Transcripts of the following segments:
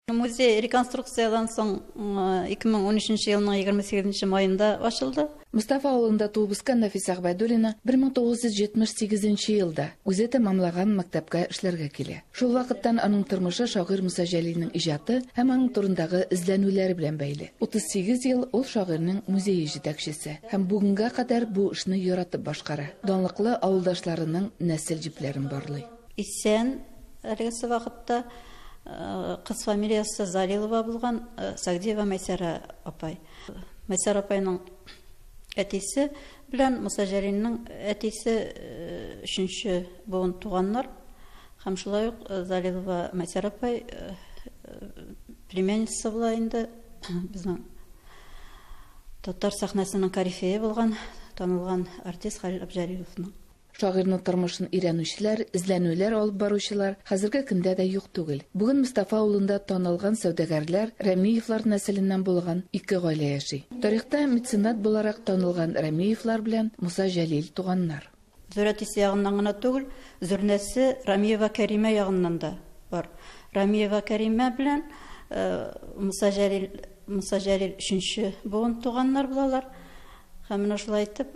Музей реконструкциядән соң 2013 елның 28 маенда ачылды. Мустафа авылында туып үскән Нафис Әгъбәдуллина 1978 елда үзе тәмамлаган мәктәпкә эшләргә килә. Шул вакыттан аның тормышы шагыйрь Муса Җәлилнең иҗаты һәм аның турындагы эзләнүләре белән бәйле. 38 ел ул шагыйрьнең музее җитәкчесе һәм бүгенгә кадәр бу эшне яратып башкара, данлыклы авылдашларының нәсел җепләрен барлый. Исән әлегесе вакытта кыз фамилиясе Залилова булган Сагдиева Мәйсәрә апай. Мәйсәрә апайның әтисе белән Муса Җәлилнең әтисе өченче буын туганнар. Һәм шулай ук Залилова Мәйсәрә апай племянница була инде безнең татар сәхнәсенең корифее булган, танылган артист Хәлил Абҗәлиловның. Шагыйрьнең тормышын өйрәнүчеләр, эзләнүләр алып баручылар хәзерге көндә дә юк түгел. Бүген Мостафа авылында танылган сәүдәгәрләр Рәмиевлар нәселеннән булган ике гаилә яши. Тарихта меценат буларак танылган Рәмиевлар белән Муса Җәлил туганнар. Зур әтисе ягыннан гына түгел, зурнәсе Рәмиева Кәримә ягыннан да бар. Рәмиева Кәримә белән Муса Җәлил, Муса Җәлил өченче буын туганнар булалар. Һәм менә шулай итеп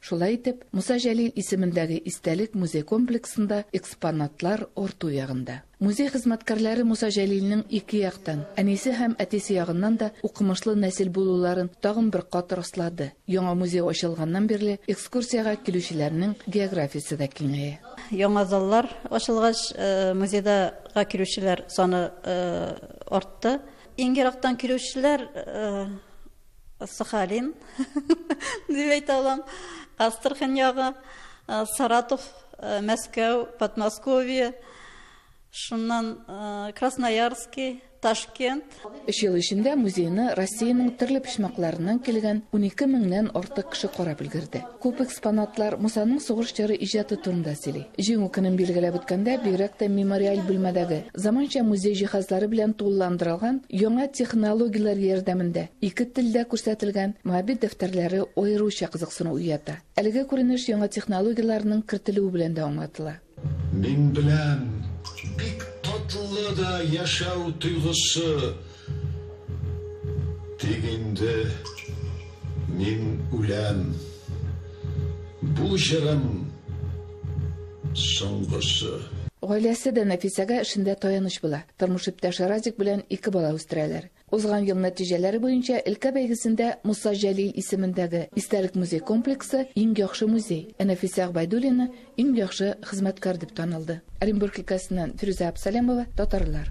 Шулай итеп, Муса Җәлил исемендәге истәлек музей комплексында экспонатлар арту ягында. Музей хезмәткәрләре Муса Җәлилнең ике яктан, әнисе һәм әтисе ягыннан да укымышлы нәсел булуларын тагын бер кат раслады. Яңа музей ачылганнан бирле экскурсиягә килүчеләрнең географиясе дә киңәя. Яңа заллар ачылгач, музейда га килүчеләр саны артты. Иң ерактан килүчеләр, Сахалин дип әйтә алам. Астрахань ягы, Саратов, Мәскәү, Подмосковье, шуннан Красноярский, Ташкент. Өч ел эчендә музейны Россиянең төрле почмакларыннан килгән унике меңнән артык кеше карап өлгерде. Күп экспонатлар Мусаның сугыш чоры иҗаты турында сөйли. Җиңү көнен билгеләп үткәндә, бигрәк тә мемориаль бүлмәдәге, заманча музей җиһазлары белән тулыландырылган, яңа технологияләр ярдәмендә ике телдә күрсәтелгән Моабит дәфтәрләре аеруча кызыксыну уята. Әлеге күренеш яңа технологияләрнең кертелүе белән дә аңлатыла. Мин беләм, бик татлы да яшәү тойгысы, тик инде мин үләм. Бу җырым, соңгысы. Гаиләсе дә Нәфисәгә эшендә таяныч була. Тормыш иптәше Радик белән ике бала үстерәләр. Узган ел нәтиҗәләре буенча өлкә бәйгесендә Муса Җәлил исемендәге истәлек музей комплексы иң яхшы музей, ә Нәфисә Гобәйдуллина иң яхшы хезмәткәр дип танылды. Оренбург өлкәсеннән Фирүзә Абсалямова, татарлар.